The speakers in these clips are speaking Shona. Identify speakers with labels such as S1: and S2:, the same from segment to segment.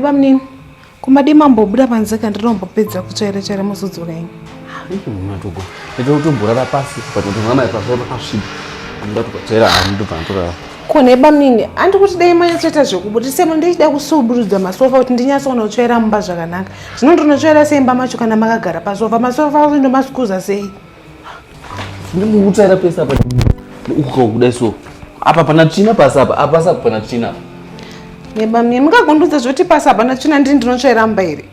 S1: bamnini kumadii mambobuda panze ka ndinombopedza kutsvaira tsvaira muzodzoka ini matogo
S2: ndatotomborara pasi but ndonaa mai pasi pakasviba ndatokatsvaira ani ndobva ndatorara kone bamnini
S1: andi kuti dai manyatsoita zvekubudisa sema ndichida kusuburudza masofa kuti ndinyatsoona kutsvaira mumba zvakanaka zvino ndinotsvaira sei imba macho kana makagara pasofa masofa azo ndomasikuza sei
S2: ndikutsvaira pese apa ukuka kudai so apa pana tsvina pasi apa apasi apa pana tsvina apa nebamie
S1: mukagondudza zvoti pasi apa pana tsvina ndini ndinotsvaira mba here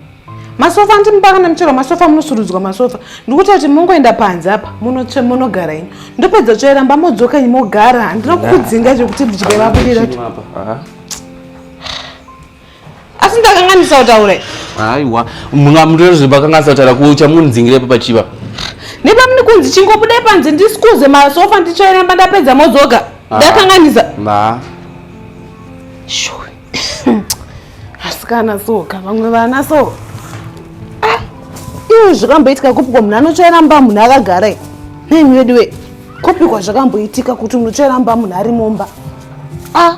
S1: masofa ndimubaka nemuchero masofa munosurudzwa masofa ndikuti kuti mongoenda panze apa munotsve monogara ini ndopedza tsvaira mba modzoka ini mogara handina kukudzinga zvekuti ndidye vabudira asi ndakanganisa kutaura aiwa
S2: mungamutoerebakanganisa kutaura kuchamunzingirepo pachiva nepamune
S1: kunzi chingobudai panze ndisikuze masofa ndichairamba ndapedza modzoga ah. ndakanganisa asikana so ka vamwe vana so ah, iwe zvakamboitika kupikwa munhu anochairamba munhu akagara nemi veduwe kupikwa zvakamboitika kuti munochairamba munhu ari mumba a ah.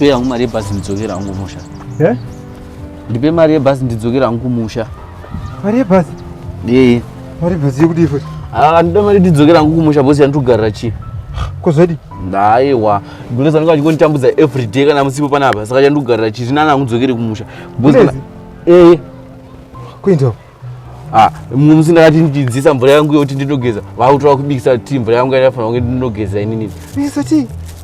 S2: ndipe yangu mari yebhazi ndidzokera hangu kumusha eh?
S3: ndipe mari yebhazi
S2: ndidzokera hangu kumusha mari yebhazi
S3: yeye mari yebhazi yekudii futi andida ah, mari ndidzokera
S2: hangu kumusha bosi yandikugarira chii kozodii
S3: ndaiwa
S2: Gulezi anenge achingonditambudza every day kana musipo panapa saka chandogarira chiti nana akudzokere kumusha ee
S3: kuinda ah, mumwe
S2: musi ndakati ndidzisa mvura yangu yekuti ndinogeza vakutora kubikisa ti mvura yangu yaifanira kunge ndinogeza inini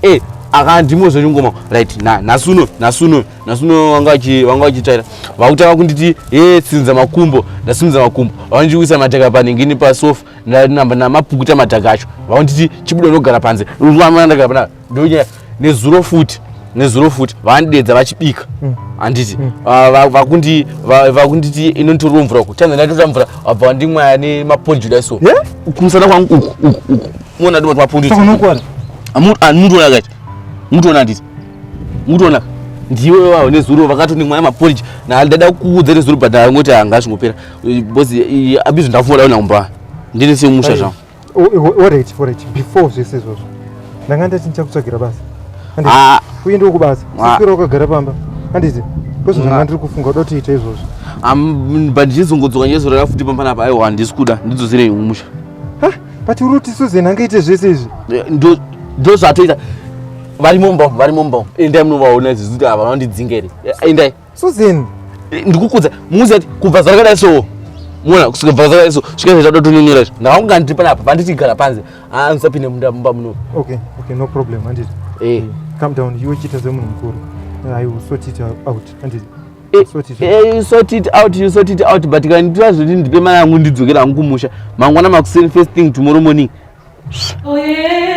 S2: ee
S3: akandimo
S2: zvechingoma right nhasi uno nhasi uno nhasi uno vanga vachitaira vakutanga kunditi e tsinza makumbo ndasimudza makumbo vanondiwisa mateka paningini pasofa namapukuta madhaka acho vaonditi chibuda unogara panze ndagara pana ndonya nezuro futi nezuro futi vandidedza vachibika mm. handiti mm. ah, vakundi vakunditi inonditorwa mvura uku tanza ndatotora mvura abva wandimwaya nemaponjuda so kumusana kwangu uku uku uku muona ndimati maponjuda mutoona ah, kati mutoona handiti mutoona ndiwe wavo nezuro vakatondimwaya maponjuda ndada kuudza nezuro but angoti hanga zvingopera bozi abizvo ndakufunga daona kumba ndini semusha zvangu oreti oreti
S3: before zvese izvozvo ndanga ndati ndichakutsvagira basa ah. uye ndiwo kubasa sikira ah. ukagara pamba handiti kwese zvanga ah. ndiri kufunga uda kutiita izvozvo but
S2: ndichizongodzoka ndiyezorora futi pamba napa aiwa handisi kuda ndidzosirei umusha but
S3: uri kuti suzen angaite zvese izvi eh,
S2: ndozvatoita varimo mumba varimo mumba endai munovaona izvi zikuti ava vanondidzinga here eh, endai Susan
S3: ndikukudza
S2: muzi ati kubva zara kadai so mona kusvika bva zara so svika zvaita dotonyonyera izvo ndakanga ndiri panapa vanditi gara panze aa ah, ndisapinde munda mumba muno okay okay no
S3: problem handiti eh calm down iwe chita semunhu mukuru i will sort it out handiti eh, sort it eh,
S2: out sort it out you sort it out but kana nditira zvoti ndipe mari yangu ndidzokera hangu kumusha mangwana makuseni first thing tomorrow morning oye oh, yeah.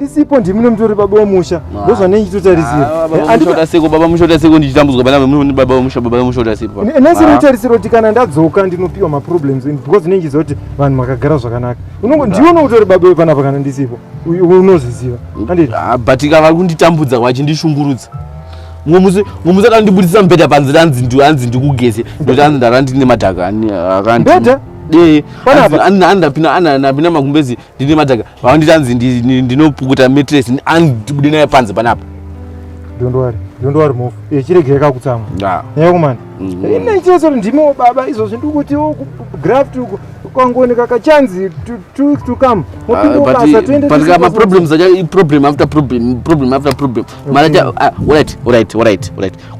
S3: ndisipo ndimi nomutori baba wemusha ndozvanei chitotarisira ah, seko
S2: baba mushota seko ndichitambudzwa pana baba wemusha baba wemushota seko nhasi rinotarisira kuti
S3: kana ndadzoka ndinopiwa maproblems because ndinenge ndichiziva kuti vanhu makagara zvakanaka unongo ndiwe unokutori baba wepanapa kana ndisipo unozviziva ah, but ika vari
S2: kunditambudza vachindishungurudza ngomusi ngomusi akandibudisa mbeda panzira anzi ndi anzi ndikugeze ndokuti anzi ndara ndine madhaka akandi
S3: mbeda eh ana ndapina
S2: ana ndapina makumbezi ndine madhaka vakanditi anzi ndinopukuta matress anzi ndibude naye panze panapa don't worry
S3: don't worry mofu echiregera kakutsamwa nyaya kumana mm. ine chese ndimiwo baba izvozvi ndikuti graft uko kwangooneka kachanzi two weeks to come mopinda ah, ubasa toende maproblems acho
S2: iproblem after problem problem after problem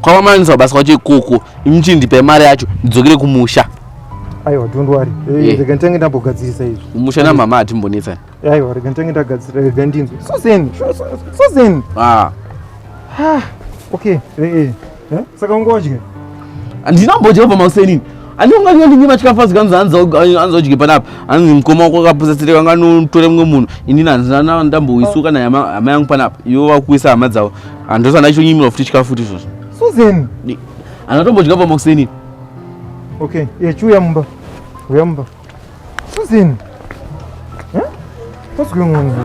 S2: kwavamanisaubasa kwacho ikoko imuchindipe mari yacho ndidzokere kumusha aiwa
S3: don't worry eh, eh. rega nditange ndambogadzirisa izvi kumusha namama hatimbonetsa
S2: aiwa rega nditange
S3: ndagadzira rega ndinzwe so zen so zen ah. ah, okay eh, Eh? Saka ungodye? Handina
S2: kumbodya pamakuseni. Ani unga nyo ndinyi machikafa zikanzi hanzi hanzi odye panapa. Hanzi mkoma wako akapusa tsire kanga notore mumwe munhu. Ini hanzi ndana ndamboisuka na yama hama yangu panapa. Iwo wakuisa hama dzawo. Handosa ndacho nyimira futi chikafu futi izvozvo. Susan.
S3: Anatombodya
S2: pamakuseni.
S3: Okay, ye chuya mumba. Uya mumba. Susan. Eh? What's going on?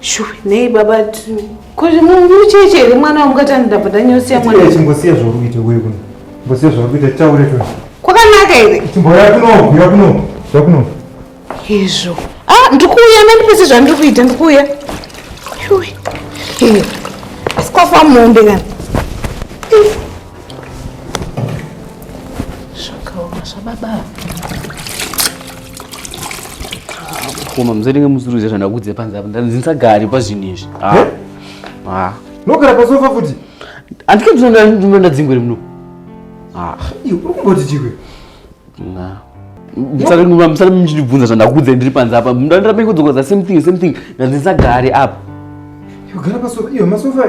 S3: Shuwe nei
S1: baba kuti mucheche here mwana wamukati andidabva ndanyosiya mwana. Chimbosiya zvauri kuita wewe
S3: kuno. Mbosiya zvauri kuita taure tu. Kwakanaka here?
S1: Chimboya kuno, kuya
S3: kuno, kuya kuno.
S1: Izvo. Ah, ndikuuya nandipese zvandiri kuita ndikuuya. Shuwe. Hey. Sikwafa mombe kana. Zvakaoma zvababa.
S2: koma musatenge musuruze zvandakudze panze apa ndandisagari pazvinhu izvi nogara
S3: pasofa futi andike ndinoda
S2: ndadzingwere muno uri
S3: kumboti chikwe
S2: musati muchindibvunza zvandakudze ndiri panze apa ndandirapenge kudzokoza same thing same thing ndandisagari apa yogara
S3: pasofa iyo masofa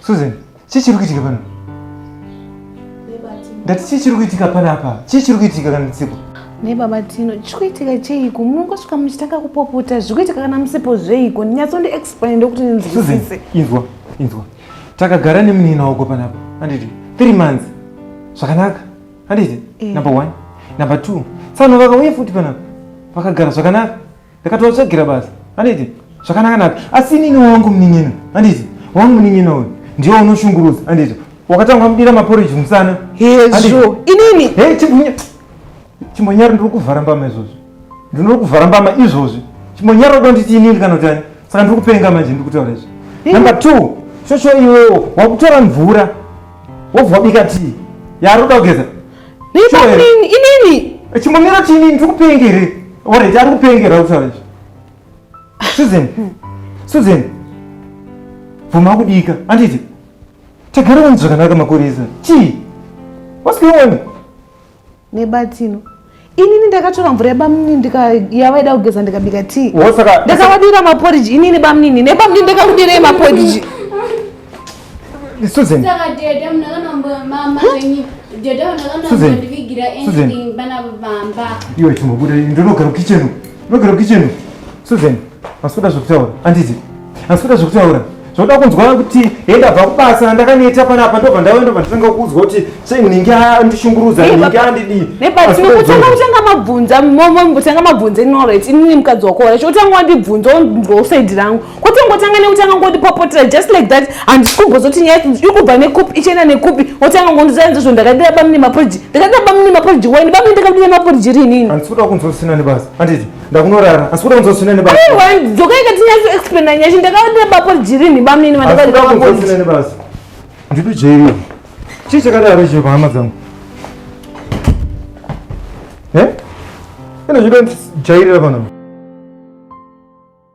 S3: Susan, chii chiri kuitika pano? Ndati chii chiri kuitika pano apa? Chii chiri kuitika kana musipo? Nebaba Tino,
S1: chiri kuitika cheiko? Munongosvika muchitanga kupopota, zviri kuitika kana musipo zveiko? Nyatso ndi explain ndokuti ndinzwisise. Susan, inzwa, inzwa.
S3: Takagara nemunini wako panapa. Handiti? 3 months. Zvakanaka. Handiti? Eh. Number 1. Number 2. Tsano vakauye futi panapa. Vakagara zvakanaka. ndakatovatsvagira basa handiti zvakanaka naka asi inini wangu munin'ina handiti wangu munin'ina uyu ndiwo unoshungurudza handiti wakatanga mudira maporiji musana hezvo
S1: inini he chimbonya
S3: chimbonyaro ndiri kuvhara mbama izvozvi ndinori kuvhara mbama izvozvi chimbonyaro kuda nditi inini kana kuti ani saka ndiri kupenga manje ndiri kutaura izvi number two shosho iwewo wakutora mvura wobva wabika tii yaari kuda kugeza Neipaini inini.
S1: Chimomira chini ndiri
S3: kupengere. Alright, ari kupengera kutaura izvi. Susan. Susan. Vuma kudika. Anditi. Tagara vanhu zvakanaka makurisa. Chii? What's going on?
S1: Nebatino. inini ndakatora mvura yebamnini ndikayavaida kugeza ndikabika tii ndakavadira
S3: maporiji
S1: inini bamnini nebamnini ndakakudirei maporiji
S3: Susan. Saka
S4: dada munakanambo mama venyu. Dada munakanambo ndivigira anything bana bamba. Iwe
S3: chimbobuda ndinogara kitchen. Ndinogara kitchen. Susan, hasuda zvokutaura, handiti? Hasuda zvokutaura. Zvoda kunzwa kuti henda bva kubasa ndakaneta pana apa ndobva ndauya ndobva nditanga kuudzwa kuti sei ninge andishungurudza ninge andidii. Nepatinokutanga kutanga
S1: mabvunza momo mbotanga mabvunza ino right inini mukadzi wako right otanga wandibvunza onzwa usaidi rangu kwete ngotanga nekutanga ngondipopotera just like that handisi kumbozoti nyaya iri kubva nekupi ichienda nekupi otanga ngondiza nzi zvo ndakadira bamune maporiji ndakadira bamune maporiji wani bamune ndakadira maporiji rinini. Handisi kuda kunzwa usina
S3: nebasa handiti. ndakunorara asi kuda kunzosina nebasa dzokaika tinyatso
S1: explaina nyasha ndakavatira bapo jirini bamnini vandakuda
S3: nebasa ndiri jeri chii chakadaro chiro pahama dzangu e ine zvido jairira panapa